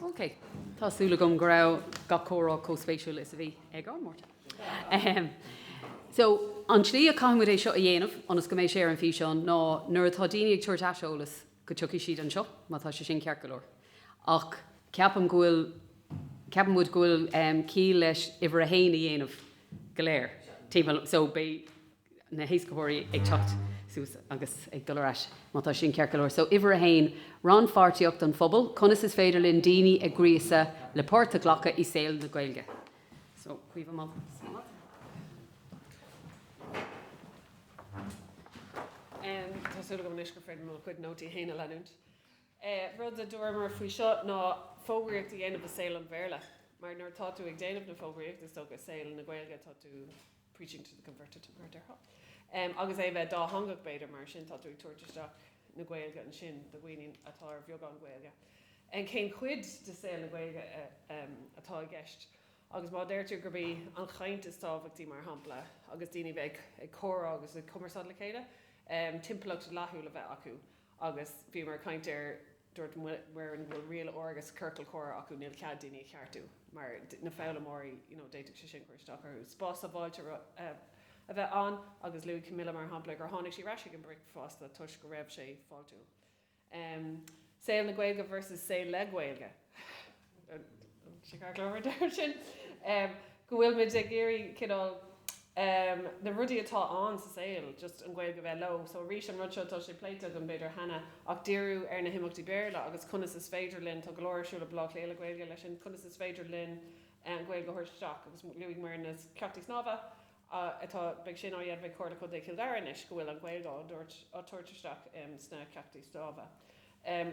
Ok, tá súil agam go raibh gach comhrá comh spéisiúil is a bhí ag ár Máirtín. Ahem. So, an tslí a chaithfimid é seo a dhéanamh, ionas go mbeidh sé ar an físeán, ná nuair atá daoine ag tabhairt aiseolas, go dtiocfaidh siad anseo, má tá sé sin ceart go leor. Ach ceapaim go bhfuil, ceapann muid go bhfuil ciall leis uimhir a haon a dhéanamh go léir, timpeall, so beidh, na héascaitheoirí ag teacht suas agus ag dul ar ais má tá sin ceart go leor. So uimhir a haon, rannpháirtíocht an phobail, conas is féidir linn daoine a ghríosadh le páirt a ghlacadh i saol na Gaeilge? So Caoimhe Malt. Tá súil agam anois gur féidir liom mo chuid nótaí féin a leanúint. Rud a dúramar faoi seo ná fógraíocht a dhéanamh i saol an Bhéarla, mar nuair atá tú ag déanamh na fógraíocht is dócha i saol na Gaeilge tá tú preaching to the converted, mar a déarfá. Agus é bheith dátheangach, b'fhéidir, mar sin tá tú ag tabhairt isteach na Gaeilge ansin do dhaoine atá ar bheagán Gaeilge. Cén chuid de saol na Gaeilge atá i gceist? Agus má deirtear gurb í an chaint is tábhachtaí, mar shampla, agus daoine bheith ag comhrá agus ag cumarsáid le chéile, timpeallacht fháiltiúil a bheith acu agus bhíomar ag caint ar Dúirt Muireann go bhfuil riail áirithe sa chiorcal comhrá acu, níl cead daoine a cheartú mar na foghlaimeoirí you know d'fhéadfadh sé sin cur isteach orthu. Spás sábháilte a bheith ann agus luaigh Camilla mar shampla gur tháinig sí ar ais ag an bricfeasta toisc go raibh sé fáiltiúil. Saol na Gaeilge versus saol le Gaeilge. go bhfuil muid ag iarraidh cineál na rudaí atá ann sa saol just an Ghaeilge bheith leo so arís an rud seo tá sé pléite againn b'fhéidir cheana ach díriú ar na himeachtaí Béarla agus conas is féidir linn tá go leor ar siúl ag Bleá Cliath le Gaeilge leis sin conas is féidir linn an Ghaeilge a thabhairt isteach agus luaigh Muireann na ceachtanna snámha atá, beidh siad á ndéanamh ag Comhairle Contae Chill Dara anois go bhfuil an Ghaeilge á tabhairt isteach sna ceachtanna snámha.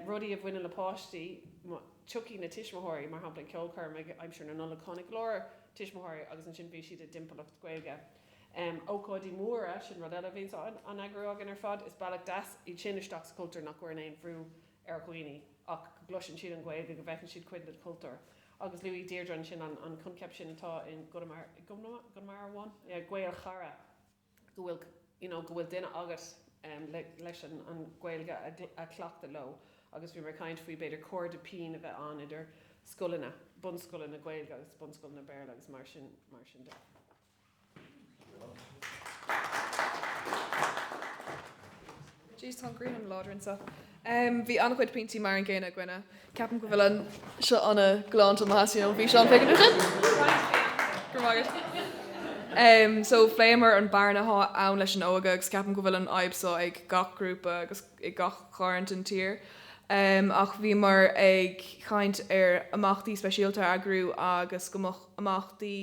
Rudaí a bhaineann le páistí, tiocfaidh na tuismitheoirí, mar shampla ag ceolchoirm ag aimsir na Nollag tháinig go leor tuismitheoirí agus ansin bhí siad i dtimpeallacht Gaeilge. Ócáidí móra, sin rud eile a bhíonns á n-eagrú againn ar fad, is bealach deas iad sin isteach sa chultúr nach gcuireann aon bhrú ar dhaoine ach go gcloiseann siad an Ghaeilge, go bhfeiceann siad cuid den chultúr. agus luaigh Deirdre ansin an coincheap sin atá i gConamara amháin, Gaelchara, go bhfuil you know go bhfuil duine agat leis an Ghaeilge a chleachtadh leo agus bhíomar ag caint faoi b'fhéidir cairde pinn a bheith ann idir scoileanna, bunscoileanna Gaeilge agus bunscoileanna Béarla agus mar sin de. Jeez, tá an ghrian an-láidir anseo. Um, bhí an-chuid pointí mar an gcéanna againne. Ceapaim go bhfuil an seo anna glánta maithe sin an bhí seán féic an sin. Um, so phléamar an bearna atá ann leis an óige agus ceapaim go bhfuil an fhadhb so ag gach grúpa agus ag gach cearn den tír. Um, ach bhíomar ag caint ar imeachtaí speisialta a eagrú agus go mbeadh imeachtaí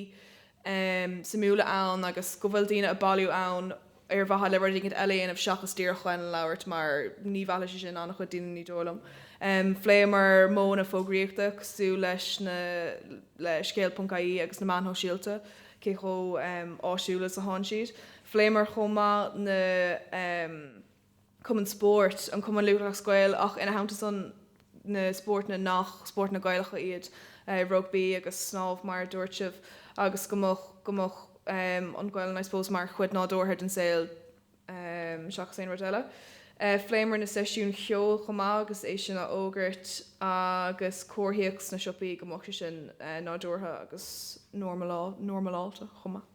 um suimiúla ann agus go bhfuil daoine a bailiú ann ar mhaithe le rud éigin eile a dhéanamh seachas díreach chun labhairt mar ní mheallfaidh sé sin an-chuid daoine ní dóigh liom. um Phléamar modhanna fógraíochta cosúil leis na Le Scéal ponc IE agus na meáin shóisialta, cé chomh um áisiúil is atá siad. Phléamar chomh maith na um. cumainn spóirt, an Cumann Lúthchleas Gael ach ina theannta san na spórtanna nach spórtanna Gaelacha iad, rugbaí agus snámh mar a dúirt sibh, agus go mbeadh go mbeadh an Ghaelainn I suppose mar chuid nádúrtha den saol seachas aon rud eile. Phléamar na seisiúin cheoil chomh maith agus é sin á fhógairt agus comharthaíocht sna siopaí go mbeadh sé sin nádúrtha agus normalá normaláilte chomh maith.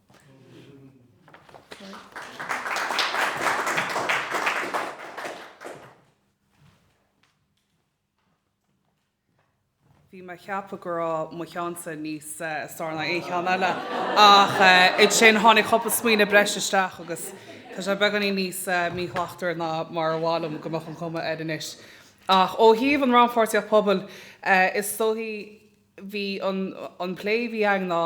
Bhí mé ag ceapadh go raibh mo cheannsa níos fearr ná aon cheann eile, ach ansin tháinig cúpla smaoineamh breis isteach agus tá sé beagáinín níos míshlachtmhaire ná mar ba mhaith liom go mbeadh an cuma air anois. Ach ó thaobh an rannpháirtíocht pobail, is dóichí bhí an an plé a bhí againn ná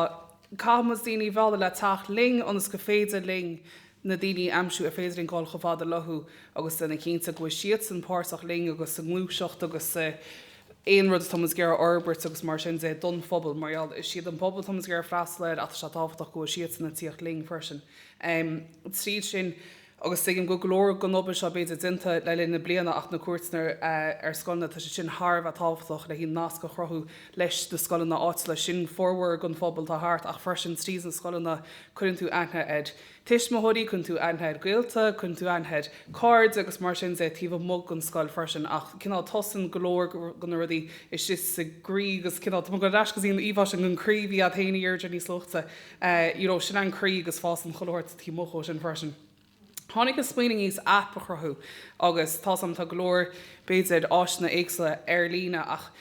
caithfidh muid daoine a mhealladh le teacht linn ionas go féidir linn na daoine a aimsiú ar féidir linn dul chomh fada leothu agus déanamh cinnte go bhfuil siadsan páirteach linn agus sa ngluaiseacht agus sa aon rud atá muid ag iarraidh a fhorbairt agus mar sin de don phobal mar gheall is siad an pobal atá muid ag iarraidh freastal air ach tá sé tábhachtach go bhfuil siadsan ag tíocht linn freisin tríd sin. agus tuigim go go leor den obair seo b'fhéidir déanta le linn na bliana ach na cuairteanna ar scoileanna tá sé sin thar a bheith tábhachtach le haon nasc a chruthú leis na scoileanna áitiúla. Sin formhór den phobal atá thart ach freisin tríd na scoileanna cuireann tú aithne ar tuismitheoirí, cuireann tú aithne ar ghaolta, cuireann tú aithne ar cairde agus mar sin de taobh amuigh den scoil freisin ach cineál tosaíonn go leor de na rudaí istigh sa gcroí agus cineál tugann ar ais go dtí an íomhá sin den chroí a bhí againn féin in airde níos luaithe. you know, sin é an croí agus fásann chuile shórt taobh amuigh dhó sin freisin. Tháinig an smaoineamh níos aip a chruthú agus tá san, tá go leor, b'fhéidir, áiseanna éagsúla ar líne ach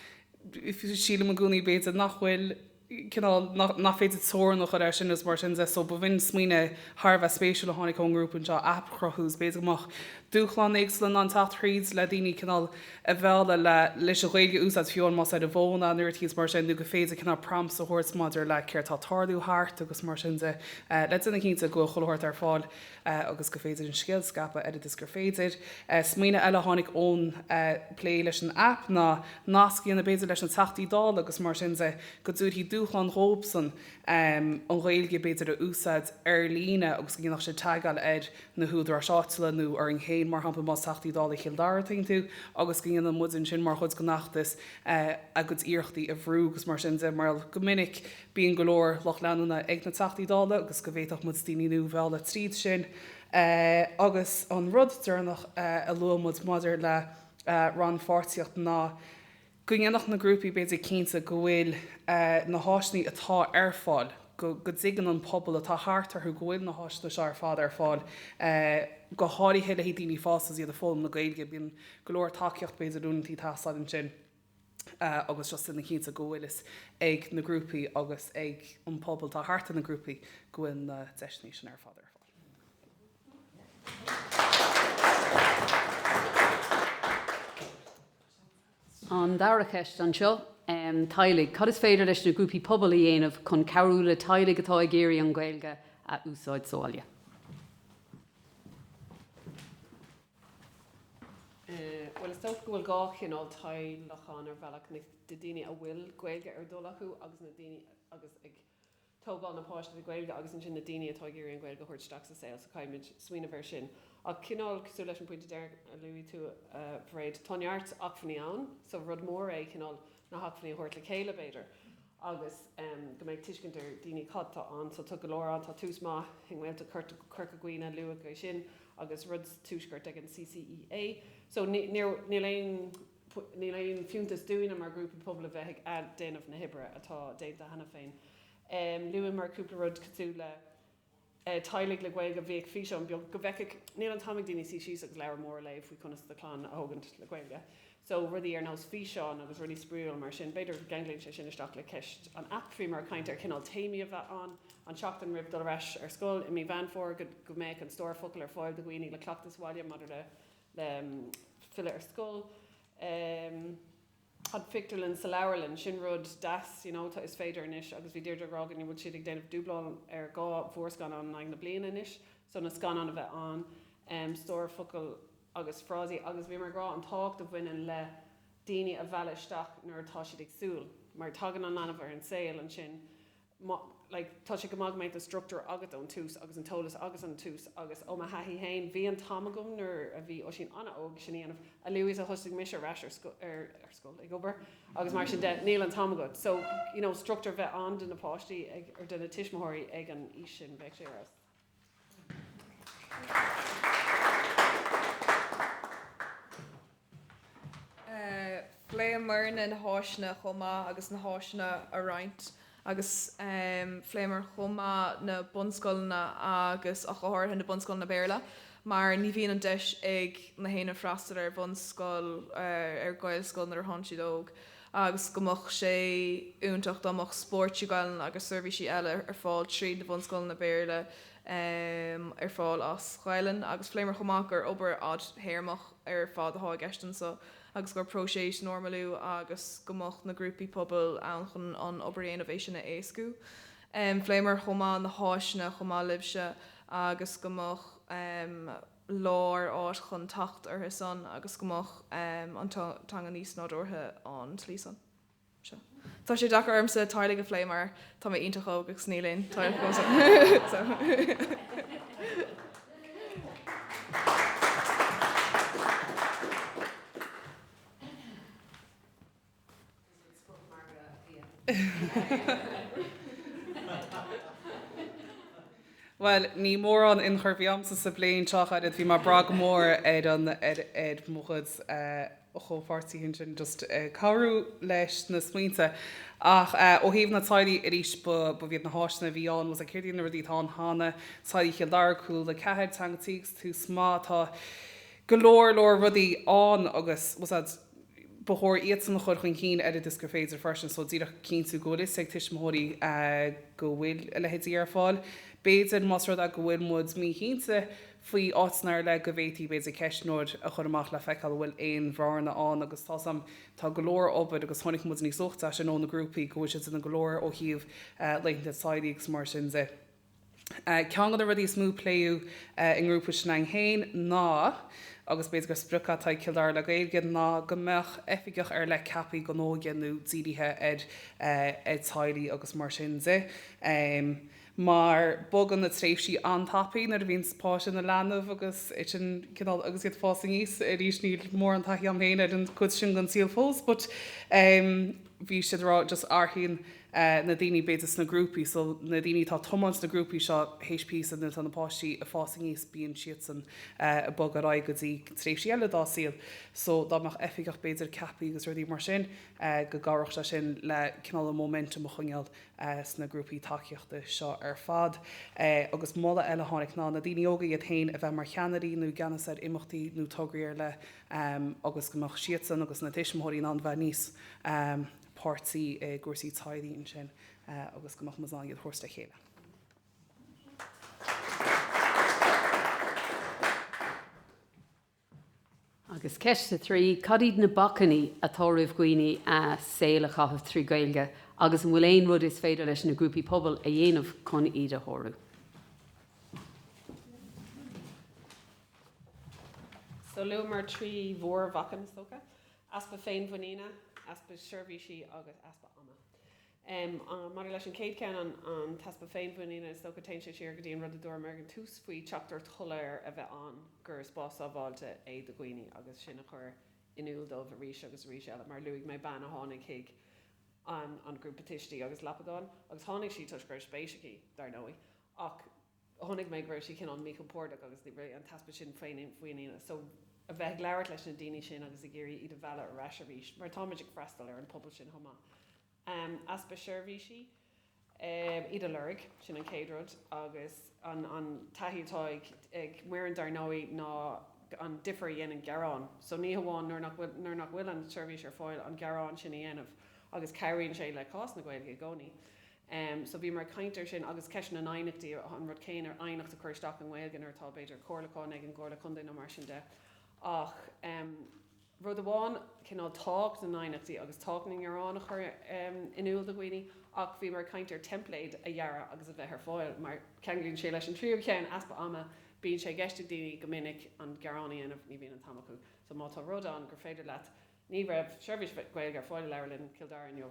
sílim i gcónaí b'fhéidir nach bhfuil cineál, nach, nach féidir teorainn a chur air sin is mar sin de so b'in smaoineamh thar a bheith spéisiúil a tháinig ón ngrúpa anseo aip a chruthú is b'fhéidir go mbeadh dúshláin éagsúla in ann teacht thríd le daoine cineál a mhealladh leis an Ghaeilge a úsáid fiú más ar an bhfón an oiread thíos mar sin nó gur féidir cineál prompts a thabhairt maidir le céard tá tarlú thart agus mar sin de le déanamh cinnte go bhfuil chuile shórt ar fáil agus gur féidir an scéal a scaipeadh oiread is gur féidir. Smaoineamh eile a tháinig ón bplé leis an app ná nasc a dhéanamh b'fhéidir leis na Teachtaí Dála agus mar sin de go dtabharfaí dúshlán dhóibhsan an Ghaeilge b'fhéidir a úsáid ar líne agus go ndéanfadh siad tagáil ar na húdaráis áitiúla nó orainn féin, mar shampla, más Teachtaí Dála Chill Dara atá iontu, agus go ndéanann muid ansin mar chuid den fheachtas a gcuid iarrachtaí a bhrú agus mar sin de, mar go minic bíonn go leor lucht leanúna ag na Teachtaí Dála agus go bhféadfadh muid daoine nua a mhealladh tríd sin. Agus an rud deireanach a luaigh muid maidir le rannpháirtíocht ná go ndéanfadh na grúpaí b'fhéidir cinnte go bhfuil na háiseanna atá ar fáil, go dtuigeann an pobal atá thart orthu go bhfuil na háiseanna seo ar fad ar fáil go háirithe le haghaidh daoine fásta is iad ag foghlaim na Gaeilge. Bíonn go leor tacaíocht b'fhéidir uathu ag teastáil ansin agus just déanamh cinnte go bhfuil fhios ag na grúpaí agus ag an pobal atá thart ar na grúpaí go bhfuil na deiseanna sin ar fad ar fáil. An dara cheist anseo. Teaghlaigh. Cad is féidir leis na grúpaí pobail a dhéanamh chun cabhrú le teaghlaigh atá ag iarraidh an Ghaeilge a úsáid sa bhaile? Bhuel is dócha go bhfuil dhá chineál teaghlach ann ar bhealach, na daoine a bhfuil Gaeilge ar a dtoil acu agus na daoine atá ag. tógáil na páistí le Gaeilge agus ansin na daoine atá ag iarraidh an Ghaeilge a thabhairt isteach sa saol so caithfimid smaoineamh ar sin ach cineál cosúil leis an pointe deiridh a luaigh tú a Mhairéad tá neart acmhainní ann so rud mór é cineál na hacmhainní a thabhairt le chéile b'fhéidir agus go mbeidh tuiscint ar dhaoine cad tá ann so tá go leor ann tá tús maith i nGaeltacht Chorca Dhuibhne luadh é sin agus rud sa tuaisceart ag an CCEA so níl aon fiúntas dúinne mar ghrúpa pobail a bheith ag athdhéanamh na hoibre atá déanta cheana féin. Luamar cúpla rud cosúil le teaghlaigh le Gaeilge a bheith ag físeán beag go bhfeicfeadh, níl an t-am ag daoine suí síos agus leabhar mór a léamh faoi conas do chlann a thógaint le Gaeilge. So rudaí ar nós físeáin agus rudaí spraíúil mar sin. B'fhéidir go gceanglaíonn sé sin isteach le ceist an app. Bhíomar ag caint ar chineál téamaí a bheith ann an tseachtain roimh dul ar ais ar scoil i mí Mheán Fómhair go mbeadh an stór focal ar fáil do dhaoine le cleachtadh sa bhaile maidir le le filleadh ar scoil, an phictiúrlann sa leabharlann, sin rud deas, you know, tá, is féidir anois agus bhí Deirdre ag rá go bhfuil siad ag déanamh dubáil ar dhá mhórscannán in aghaidh na bliana anois, so na scannáin a bheith ann, stór focal agus frásaí agus bhíomar ag rá an tábhacht a bhaineann le daoine a mhealladh isteach nuair atá siad ag súil mar tagann an leanbh ar an saol ansin, like tá sé go maith go mbeidh an structúr agat ón tús agus an t-eolas agat ón tús agus ó mo thaithí féin bhí an t-am agam nuair a bhí Oisín an-óg sin a dhéanamh a luaithe is a thosaigh mise ar ais ar ar scoil ag obair agus mar sin de níl an t-am agat so you know structúr bheith ann do na páistí ag er do na tuismitheoirí ag an aois sin bheadh sé ar fheabhas. Phléamar na, na háiseanna chomh maith agus na háiseanna a roinnt agus phléamar chomh maith na bunscoileanna agus go háirithe na bunscoileanna Béarla mar ní bhíonn an deis ag éinne freastal ar bhunscoil, ar Ghaelscoil nuair a thánn siad óg. agus go mbeadh sé iontach dá mbeadh spórt trí Ghaelainn agus seirbhísí eile ar fáil tríd na bunscoileanna Béarla ar fáil as Gaelainn agus phléamar chomh maith gur obair fhadtéarmach ar fad atá i gceist ansan agus gur próiseas normalú agus go mbeadh na grúpaí pobail ann chun an obair a dhéanamh agus é sin a éascú. Phléamar chomh maith na háiseanna chomh maith libhse agus go mbeadh lár áit chun teacht ortha san agus go mbeadh an teanga níos nádúrtha an tslí san. Sea. Tá sé deacair ormsa teaghlaigh a phlé mar tá mé iontach óg agus níl aon teaghlach agamsa. Bhuel, níl mórán ionchur a bhí agamsa sa bplé seo, a chairde. Bhí mé ag brath go mór ar an, ar, ar mo chuid eh comhpháirtithe ansin just ag cabhrú leis na smaointe. Ach eh ó thaobh na teaghlaigh arís ba, ba bh'iad na háiseanna a bhí ann so like céard iad na rudaí atá ann cheana, teaghlaigh Chill Dara, Cúla Ceathair, Teanga Tí agus Tús Maith, tá go leor, leor rudaí ann agus was that, ba chóir iadsan a chur chun cinn oiread is gur féidir freisin, so díreach cinntiú go bhfuil fhios ag tuismitheoirí go bhfuil a leithéidí ar fáil. B'fhéidir más rud é go bhfuil muid míchinnte faoi áiteanna ar leith go bhféadfaí b'fhéidir ceistneoir a chur amach le feiceáil an bhfuil aon bhearna ann agus tá, so, tá go leor obair agus chonaic muid níos luaithe ansin ó na grúpaí go bhfuil siad ag déanamh go leor ó thaobh laethanta teaghlaigh agus mar sin de. Ceann de na rudaí is mó a pléadh inár ngrúpa s'againn féin ná, agus b'fhéidir gur sprioc atá ag Cill Dara le Gaeilge, ná go mbeadh oifigeach ar leith ceaptha don óige nó dírithe ar teaghlaigh agus mar sin de. Mar bogann na tréimhsí an-tapaidh nuair a bhíonn páiste ina leanbh agus sin cineál agus iad ag fás aníos. Arís níl mórán taithí agam féin ar an gcuid sin den saol fós but bhí siad ag rá just athraíonn eh, na daoine b'fhéidir sna grúpaí so na daoine atá ag tiomáint na grúpaí seo théis píosa nuair atá na páistí a' fás aníos bíonn siadsan eh, a' bogadh ar aghaidh go dtí tréimhsí eile dá saol so dá mbeadh oifigeach b'fhéidir ceaptha agus rudaí mar sin eh, go gcabhródh sé sin le cineál an momentum a choinneáil eh, sna grúpaí tacaíochta seo ar fad. Eh, agus moladh eile a tháinig ná na daoine óga iad fhéin a bheith mar cheannairí nó i gceannas ar imeachtaí nó tograí ar leith em, agus go mbeadh siadsan agus na tuismitheoirí in ann bheith níos em, páirteach i gcúrsaí teaghlaigh ansin agus go mbeadh muid in ann iad a thabhairt le chéile. Agus ceist a trí, cad iad na bacainní atá roimh dhaoine a saol a chaitheamh trí Ghaeilge agus an bhfuil aon rud is féidir leis na grúpaí pobail a dhéanamh chun iad a shárú? So luamar trí mhór bhacainn is dócha. Easpa féinmhuiníne, easpa seirbhísí agus easpa ama. Maidir leis an chéad cheann, an t-easpa féinmhuiníne, is dócha, téann sé siar go dtí an rud a dúramar ag an tús faoi theachtaireacht shoiléir a bheith ann gur spás sábháilte é do dhaoine agus sin a chur in iúl dóibh arís agus arís eile. Mar a luaigh mé, bean a tháinig chuig an grúpa tuistí agus lapadán agus tháinig sí toisc go raibh spéis aici, dar ndóigh, ach. chonaic mé go raibh sé cineál míchompordach agus an t-easpa sin féinmhuiníne. So a bheith ag labhairt leis na daoine sin agus ag iarraidh iad a mhealladh ar ais arís mar táimid ag freastal ar an pobal sin chomh maith. Easpa seirbhísí, iad a lorg, sin an chéad rud agus an taithí atá ag m'fhoireann dar ndóigh ná an difear a dhéanann gearán. So ní hamháin nuair nach bhfuil, nuair nach bhfuil an tseirbhís ar fáil an gearán sin a dhéanamh agus cabhraíonn sé le cás na Gaeilge i gcónaí. Em so bhíomar ag caint air sin agus ceist na n-aighneachtaí, an rud céanna aighneacht a chur isteach i nGaeilge nuair atá b'fhéidir comhairliúchán ag an gComhairle Contae nó mar sin de ach em rud amháin cineál tábhacht na n-aighneachtaí agus tábhacht na ngearán a chur em in iúl do dhaoine ach bhíomar ag caint ar template a dhearadh agus a bheith ar fáil mar ceanglaíonn sé leis an tríú cheann, easpa ama, bíonn sé i gceist ag daoine go minic an gearán a dhéanamh ní bhíonn an t-am acu so má tá rud ann gur féidir leat ní raibh seirbhís Ghaeilge ar fáil i Leabharlann Chill Dara inniu,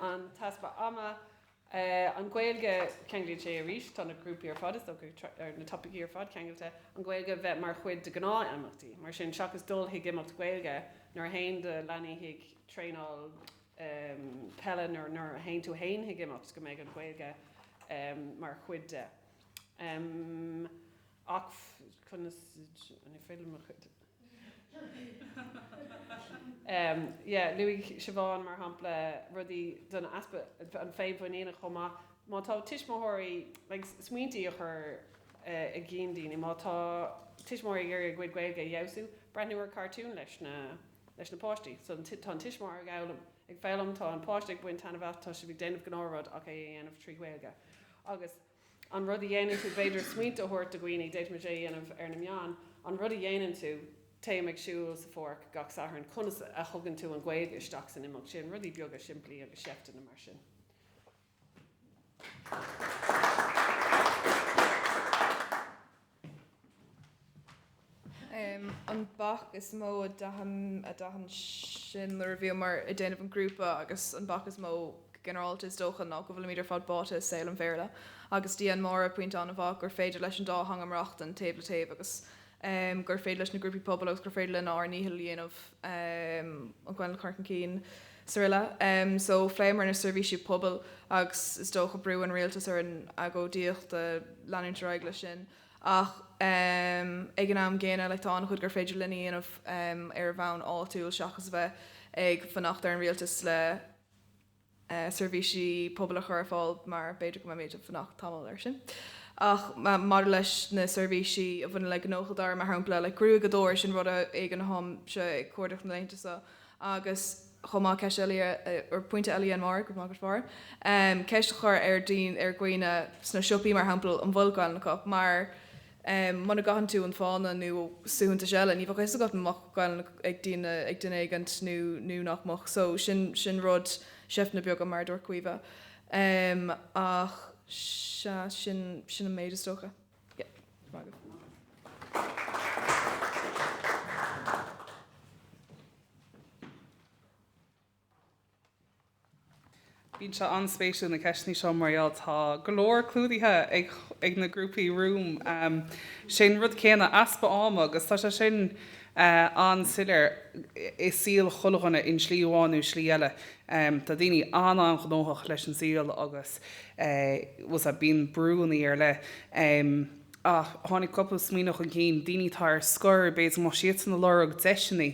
An t-easpa ama. An Ghaeilge, ceanglaíonn sé arís, tá na grúpaí ar fad, is dócha, ar na topaicí ar fad ceangailte, an Ghaeilge bheith mar chuid de ghnáth imeachtaí. Mar sin, seachas dul chuig imeacht Gaeilge, nuair a théann do leanaí chuig traenáil peile nó nuair a théann tú fhéin chuig imeacht, go mbeidh an Ghaeilge mar chuid de. Ach conas an feidhm a chuid. Yeah, luaigh Siobhán, mar shampla, rudaí don easpa an féinmhuiníne chomh maith. Má tá tuismitheoirí like smaointí a chur i gcinn daoine, má tá tuismitheoirí ag iarraidh a gcuid Gaeilge a fheabhsú, breathnú ar chartúin leis na leis na páistí. So tá an tuismitheoir ag fhoghlaim ag foghlaim, tá an páiste ag baint taitneamh as, tá sibh ag déanamh gnáth rud ach é a dhéanamh trí Ghaeilge. Agus. An rud a dhéanann tú, b'fhéidir smaointe a thabhairt do dhaoine, d'fhéadfaimis é a dhéanamh ar na meáin, an rud a dhéanann tú, téim ag siúl sa pháirc gach Satharn, conas a thugann tú an Ghaeilge isteach san imeacht sin, rudaí beaga simplí agus seifteanna mar sin. an bac is mó a d'aithin a d'aithin sinn nuair a bhíomar ag déanamh an grúpa agus an bac is mó go ginearálta is dócha ná go bhfuilimid ar fad báite i saol an Bhéarla agus dhein Máire pointe an-mhaith gur féidir leis an dá theanga maireachtaint taobh le taobh agus gur féidir leis na grúpaí pobail agus gur féidir linn ár ndícheall a dhéanamh an Ghaeilge a chur chun cinn. Sara Ella, so phléamar na seirbhísí pobail agus is dócha brú ar an rialtas, an agóidíocht a leanúint ar aghaidh leis sin ach ag an am gcéanna like tá an-chuid gur féidir linn a dhéanamh ar bhonn áitiúil seachas a bheith ag fanacht ar an rialtas le seirbhísí pobail a chur ar fáil mar b'fhéidir go mbeimid ag fanacht tamall ar sin ach maidir leis na seirbhísí a bhaineann le gnóthaí, mar shampla like gruaigeadóir, sin rud éigin atáimse ag cuardach na laethanta seo agus chomh maith ceist eile, or pointe eile a dhein Mark of Market Four ceist a chur ar daoine ar dhaoine sna siopaí mar shampla an bhfuil Gaelainn acu mar muna gcaitheann tú an fáinne nó suaitheantas eile ní bheadh fhios agat an mbeadh Gaelainn ag daoine ag duine éigin nó nó nach mbeadh so sin sin rud seifteanna beaga mar a dúirt Caoimhe ach sea sin sin an méid is dócha. Bíonn sé an-spéisiúil na ceisteanna seo mar gheall tá go leor clúdaithe ag ag na grúpaí romham. Sin an rud céanna easpa ama agus tá sé sin an-soiléir i saol chuile dhuine in slí amháin nó slí eile. Tá daoine an-an-ghnóthach leis an saol agus bíonn brúnnaí ar leith. Ach tháinig cúpla smaoineamh chun cinn, daoine atá ar scor, b'fhéidir mar tá siadsan ag lorg deiseanna,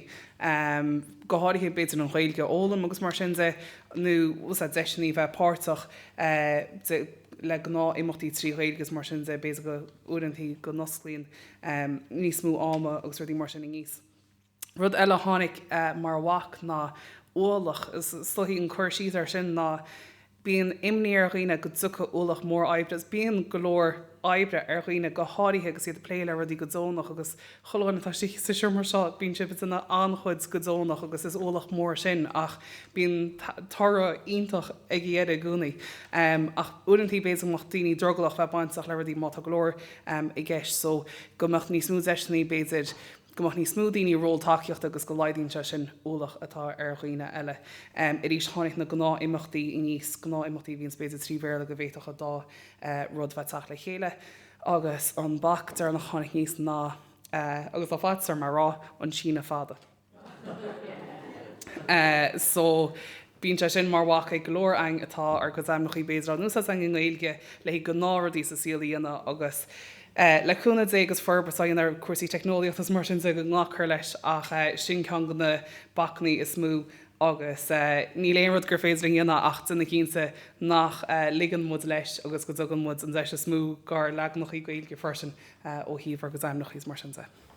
go háirithe b'fhéidir an Ghaeilge a fhoghlaim agus mar sin de, nó deiseanna a bheith páirteach le gnáth imeachtaí trí Ghaeilge is mar sin de, b'fhéidir go n-oirfeadh go n-osclaíonn níos mó ama agus rudaí mar sin aníos. Rud eile a tháinig mar bhac ná ualach. So is dóigh an cur síos ar sin ná bíonn imní ar dhaoine go dtiocfadh ualach mór oibre agus bíonn go leor oibre ar dhaoine go háirithe agus iad ag plé le rudaí go deonach agus chuile dhuine atá sa seomra seo bíonn sibh ag déanamh an-chuid go deonach agus is ualach mór sin ach bíonn toradh iontach ag an deireadh i gcónaí ach uaireantaí b'fhéidir go mbeadh daoine drogallach bheith bainteach le rudaí má tá go leor i gceist so go mbeadh níos mó deiseannaí b'fhéidir go mbeadh níos mó daoine i ról tacaíochta agus go laghdaíonn sé sin an t-ualach atá ar dhaoine eile. arís tháinig na gnáthimeachtaí aníos gnáthimeachtaí a bhíonns b'fhéidir trí Bhéarla go bhféadfadh an dá rud bheith teacht le chéile agus an bac deireanach a tháinig aníos ná agus tá sé fada sa seomra ráite an síneadh fada. so bíonn sé sin mar bhac ag go leor againn atá ár gcuid ainmneachaí b'fhéidir in úsáid againn i nGaeilge le gnáthrudaí sa saol a dhéanamh agus le cúnamh Dé agus forbairt á dhéanamh ar cúrsaí teicneolaíochta is mar sin de go nglacfar leis ach sin ceann de na bacannaí is mó agus níl aon rud gur féidir linn a dhéanamh ach déanamh cinnte nach ligeann muid leis agus go dtugann muid an deis is mó gár leaganachaí Gaeilge freisin ó thaobh ár gcuid ainmneachaí is mar sin de.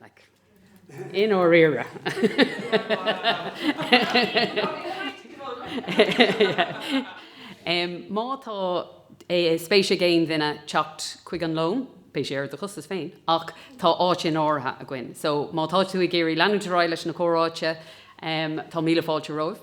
Like. In áirithe. um, má tá eh, spéis ag aon duine teacht chuig an lón, beidh sé ar do chostas féin, ach tá áit in áirithe againn. So má tá tú ag iarraidh leanúint ar aghaidh leis na comhráite, um, tá míle fáilte romhaibh.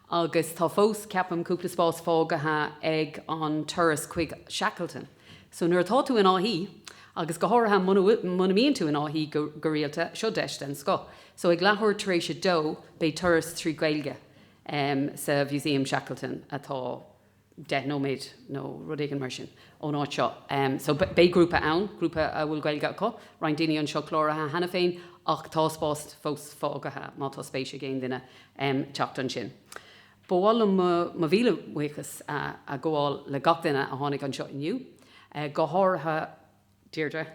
Agus tá fós, ceapaim, cúpla spás fágaithe ag an turas chuig Shackleton. So nuair atá tú in Áth Í, agus go háirithe muna mbíonn tú in Áth Í go rialta, seo deis den scoth. So ag leathuair tar éis a dó beidh turas trí Gaeilge sa Mhúsaem Shackleton atá deich nóiméad nó rud éigin mar sin ón áit seo. So beidh grúpa ann, grúpa a bhfuil Gaeilge acu, roinnt daoine anseo cláraithe cheana féin ach tá spás fós fágaithe má tá spéis ag aon duine teacht ansin. Ba mhaith liom mo mhíle bhuíochas a ghabháil le gach duine a tháinig anseo inniu, go háirithe Deirdre.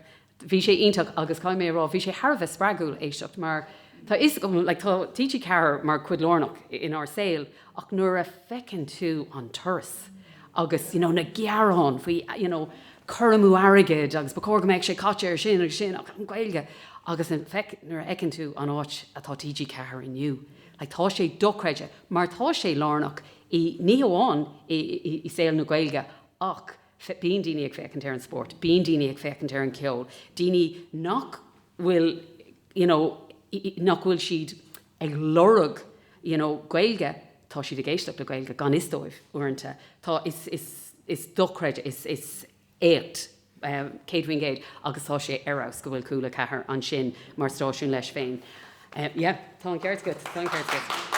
Bhí sé iontach agus caithfidh mé a rá, bhí sé thar a bheith spreagúil éisteacht mar tá 'fhios agam, like, tá TG4 mar cuid lárnach inár saol ach nuair a fheiceann tú an turas agus you know na gearáin faoi you know cur amú airgid agus ba chóir go mbeadh sé caite ar sin agus sin ach an Ghaeilge agus nuair a fheiceann tú an áit atá TG4 inniu. Ach tá sé dochreidte mar tá sé lárnach i, ní hamháin i saol na Gaeilge ach bíonn daoine ag féachaint ar an spórt, bíonn daoine ag féachaint ar an cheol, daoine nach bhfuil you know nach bhfuil siad ag lorg you know Gaeilge, tá siad ag éisteacht le Gaeilge gan fhios dóibh uaireanta. Tá, is, is, is dochreidte, is, is. éacht 100% agus tá sé ar fheabhas go bhfuil Cúla 4 ansin mar stáisiún leis féin. Yeah, tá an ceart agat, tá an ceart agat.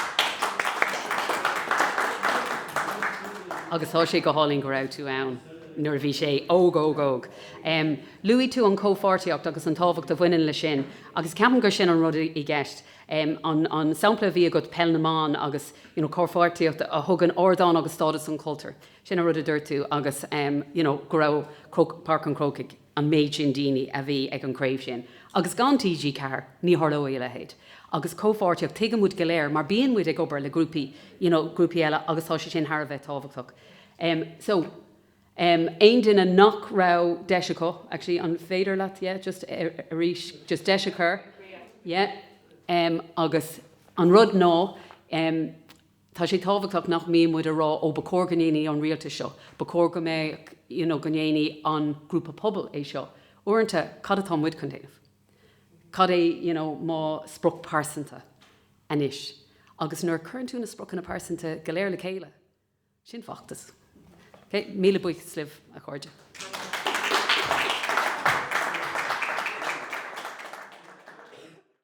Agus tá sé go hálainn go raibh tú ann nuair a bhí sé óg, óg, óg. Em, luaigh tú an chomhpháirtíocht agus an tábhacht a bhaineann leis sin agus ceapaim gur sin an rud i gceist. Em, an, an sampla a bhí agat, Peil na mBan agus, you know, comhpháirtíocht a thugann ardán agus stádas don chultúr. Sin an rud a dúirt tú agus you know go raibh Páirc an Chrócaigh an méid sin daoine a bhí ag an gCraobh sin agus gan TG Ceathair ní tharlódh a leithéid. Agus comhpháirtíocht tuigeann muid go léir mar bíonn muid ag obair le grúpaí you know grúpaí eile agus tá sé sin thar a bheith tábhachtach. Em so em aon duine nach raibh deis acu actually an féidir leat yeah just arís just deis a chur yeah em agus an rud ná em Tá sé tábhachtach nach mbíonn muid a rá 'Ó ba chóir go ndéanfadh an rialtas seo, ba chóir go mbeadh you know, go ndéanfadh an grúpa pobail é seo'. Uaireanta, cad atá muid chun déanamh? Cad é you know, mo sprioc pearsanta anois? Agus nuair a chuireann tú na spriocanna pearsanta go léir le chéile, sin feachtas. Ok? Míle buíochas libh, a chairde.